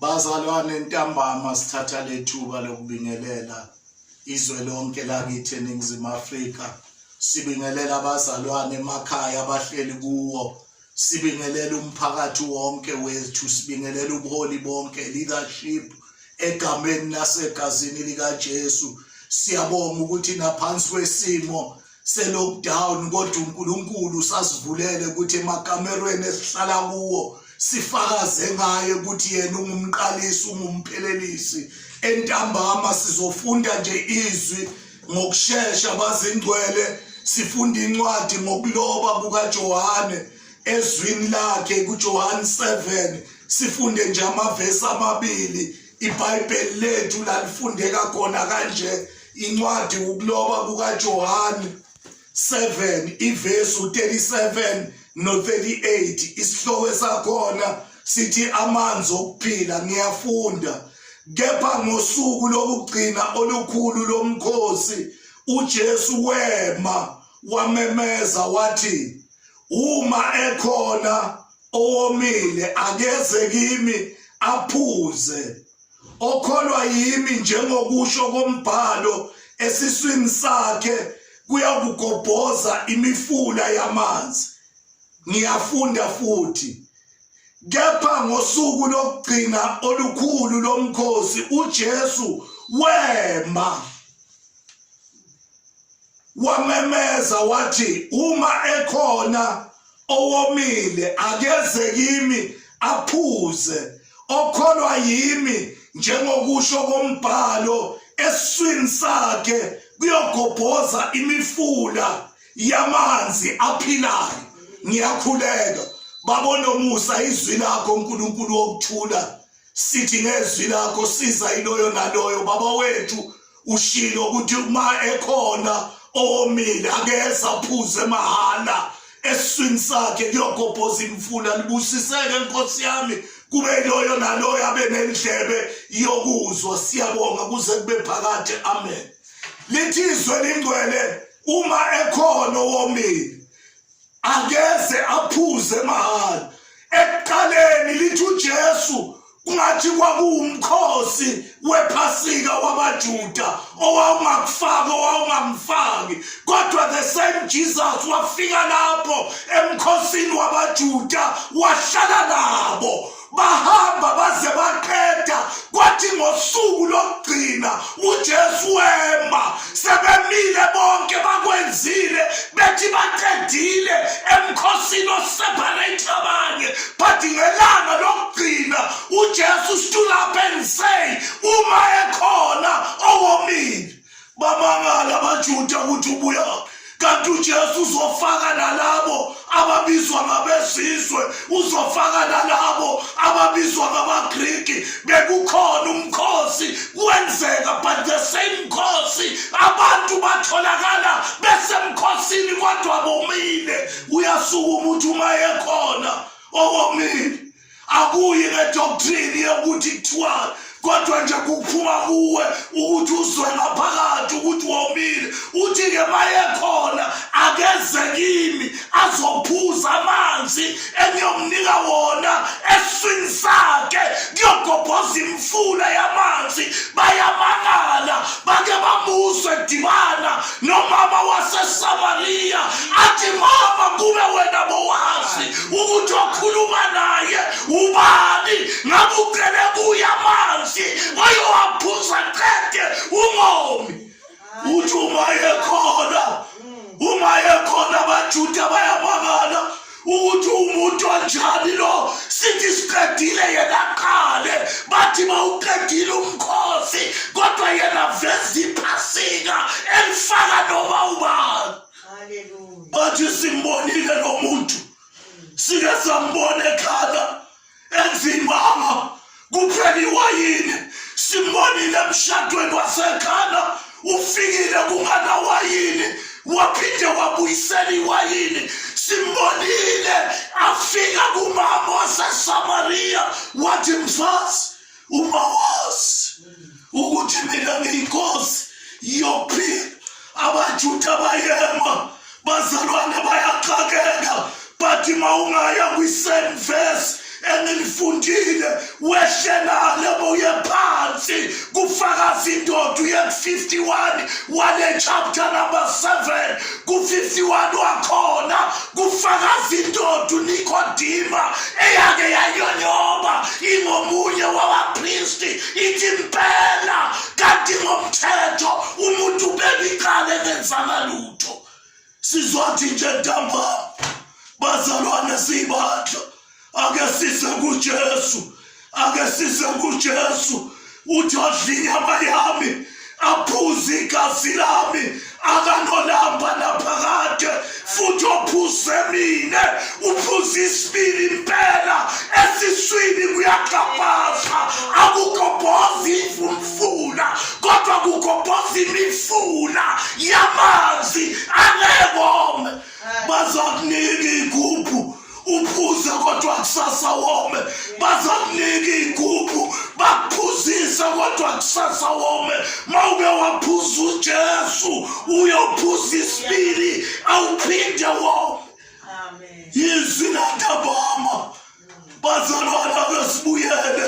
Bazalwane ntambama sithatha lethuba lokubingelela izwe lonke lakithi eNingizimu Afrika sibingelela abazalwane emakhaya abahleli kuwo sibingelela umphakathi wonke wethu sibingelela ubuholi bonke leadership egameni lasegazini likaJesu siyabonga ukuthi naphansi kwesimo se-lockdown kodwa uNkulunkulu usasivulele ukuthi emakamerweni esihlala kuwo sifakaze ngaye ukuthi yena ungumqalisi ungumphelelisi entambama sizofunda nje izwi ngokushesha bazingcwele sifunda incwadi ngokuloba kukaJohane ezwini lakhe kuJohane 7 sifunde nje amavesi amabili ibhayibheli lethu lalifundeka khona kanje incwadi ukuloba kukajohane 7 ivesi u-37 no-38 isihloko esakhona sithi amanzi okuphila ngiyafunda kepha ngosuku lokugcina olukhulu lomkhosi uJesu wema wamemeza wathi uma ekhona owomile akeze kimi aphuze okholwa yimi njengokusho kombhalo esiswini sakhe kuyakugobhoza imifula yamanzi ngiyafunda futhi kepha ngosuku lokugcina olukhulu lomkhosi uJesu wema wamemeza wathi uma ekhona owomile akeze kimi aphuze okholwa yimi njengokusho kombhalo eswini sakhe kuyogobhoza imifula yamanzi aphilayo ngiyakhuleka babonomusa izwi lakho uNkulunkulu wokuthula sithi ngezwi lakho siza iloyo naloyo baba wethu ushilo ukuthi uma ekhona owomile akeze aphuze mahhala eswini sakhe kuyogobhoza imfula libusiseke nkosi yami kube loyo naloyo abe nendlebe yokuzwa siyabonga kuze kube phakade amen lithizwe lingcwele uma ekhona owomile angeze aphuze mahhala ekuqaleni lithi uJesu kungathi kwakuwumkhosi wephasika wamajuda owawungakufaki owawungamfaki kodwa the same jesus wafika lapho emkhosini wamajuda wahlala nabo bahamba baze baqeda kwathi ngosuku lokugcina uJesu wema sebemile bonke bakwenzile bethi baqedile emkhosini oseparate abanye but ngelanga lokugcina uJesu stood up and say uma ekhona owomile Bamangala amaJuda ukuthi ubuya kanti uJesu uzofaka nalabo ababizwa ngabezizwe uzofaka nalabo ababizwa ngamaGriki bekukhona umkhosi kwenzeka but the same mkhosi abantu batholakala besemkhosini kodwa bomile uyasuka umuntu uma ekhona owomile akuyi ngedoctrine yokuthi kuthiwani kodwa nje kuphuma kuwe ukuthi uzwe ngaphakathi ukuthi womile uthi-ke mayekhona akeze kimi azophuza amanzi engiyomnika wona eswini sakhe kuyogobhoza imfula yamanzi bayamangala bake bamuzwe dibana nomama wasesamariya athi mama kube wena bowazi ukuthi wakhuluma naye ubani ngabe ucele kuye amanzi wayowaphuza qede ungomi uthi uma ekhona uma ekhona abajuda bayamangala ukuthi umuntu onjani lo sithi siqedile yena qale bathi mawuqedile umkhosi kodwa yena veza iphasika elifaka noma ubani bathi simbonile lo muntu sike sambona ekhala endlini mama kupheliwa yini simbonile emshadweni wasekhana ufikile kunganawa yini waphinde wabuyisela iwayini simbonile afika kumama wasesamariya wathi mfazi uma wazi ukuthi mina ngiyinkosi yokuphila abajuda bayema bazalwane bayaxakeka but ma ungaya kwi-same verse engilifundile wehlenale boye phansi kufakaza indoda uye ku-51 wale chapter number 7 ku-51 wakhona kufakaza indoda unikodima eyake yanyonyoba ingomunye wabapristi ithi mpela kanti ngomthetho umuntu ubebiqale engenzanga lutho sizothi nje ntambama bazalwane siyibandla ake size kujesu ake size kujesu uthi odla inyama yami aphuze igazi lami akanolamba naphakade futhi ophuze mina uphuze isibili impela esiswini kuyaxabhaza akugobhozi imfumfuna kodwa kugobhoza imifuna yamanzi angekome bazakunika igubhu uphuze kodwa kusasa wome bazakunika iy'gubhu bakuphuzise kodwa kusasa wome ma uke waphuza ujesu uyophuza isibili awuphinde wome yizwi lantabama bazalwana besibuyele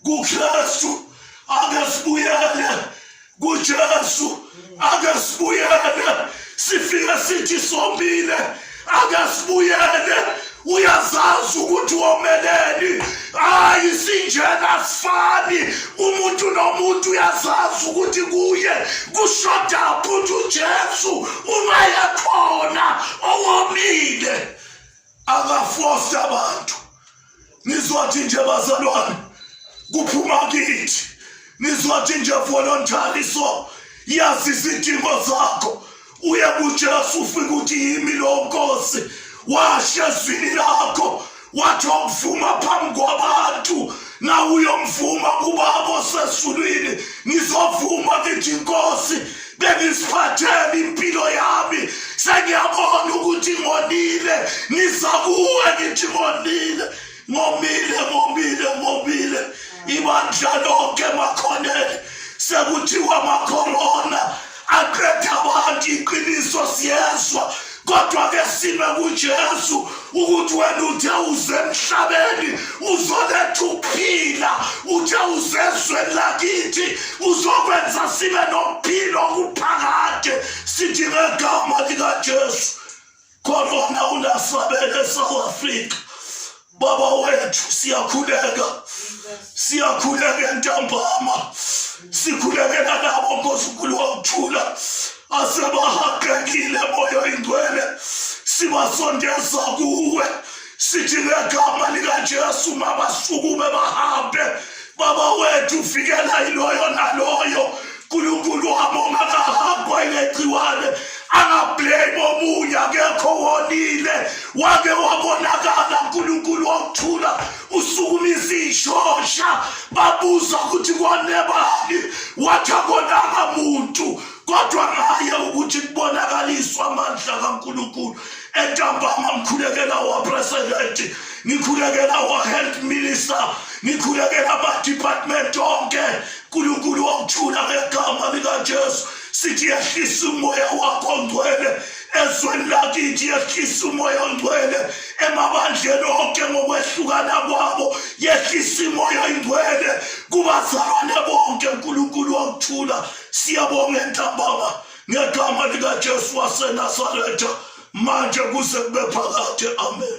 kuKristu akasibuyele kuJesu akasibuyele sifika sithi somile akasibuyele uyazazi ukuthi womeleni hayi sinjena sifani umuntu nomuntu uyazazi ukuthi kuye kushoda futhi ujesu uma yekhona owomile akafosi abantu nizwathi nje bazalwane kuphuma kithi nizwathi nje voluntary so yazi izidingo zakho uye kujesu ufike ukuthi yimi lo nkosi washo ezwini lakho wathi okuvuma phambi kwabantu na uyomvuma kubabo sezulwini ngizovuma ngithi inkosi bengisiphathele impilo yami sengiyabona ukuthi ngonile ngiza kuwe ngithi ngonile ngomile ngomile ngomile ibandla lonke makhonele sekuthiwa makhorona aqeda abantu iqiniso siyezwa kodwa ke sime kuJesu ukuthi wena uthe uze emhlabeni uzoletha ukuphila uthe uzezweni lakithi uzokwenza sibe nokuphila okuphakade sithi ngegama likaJesu Khona unasabele South Africa. Baba wethu siyakhuleka. Siyakhuleka ntambama. Sikhulekela labo nkosukulu wakuthula asebahaqekile moyo ingcwele sibasondeza kuwe sithi ngegama likaJesu mabasukume bahambe baba wethu uvikela iloyo naloyo uNkulunkulu wami ongakahambwa ilegciwane angablame omunye akekho wonile wake wabonakala uNkulunkulu wokuthula usukuma izishosha babuza ukuthi kwanebani wathi akonanga muntu kodwa ngaye ukuthi kubonakaliswa amandla kaNkulunkulu entambama ngikhulekela wapresidenti ngikhulekela wa-health minister ngikhulekela ama-department onke nkulunkulu wakuthula ngegama likajesu sithi yehlisa umoya wakho ngcwele ezweni lakithi yehlisa umoya ongcwele emabandleni onke ngokwehlukana kwabo yehlisa imoya ingcwele kubazalwane bonke unkulunkulu wakuthula Siyabonga entambama ngegama likaJesu waseNazaretha manje kuze kube phakade. Amen.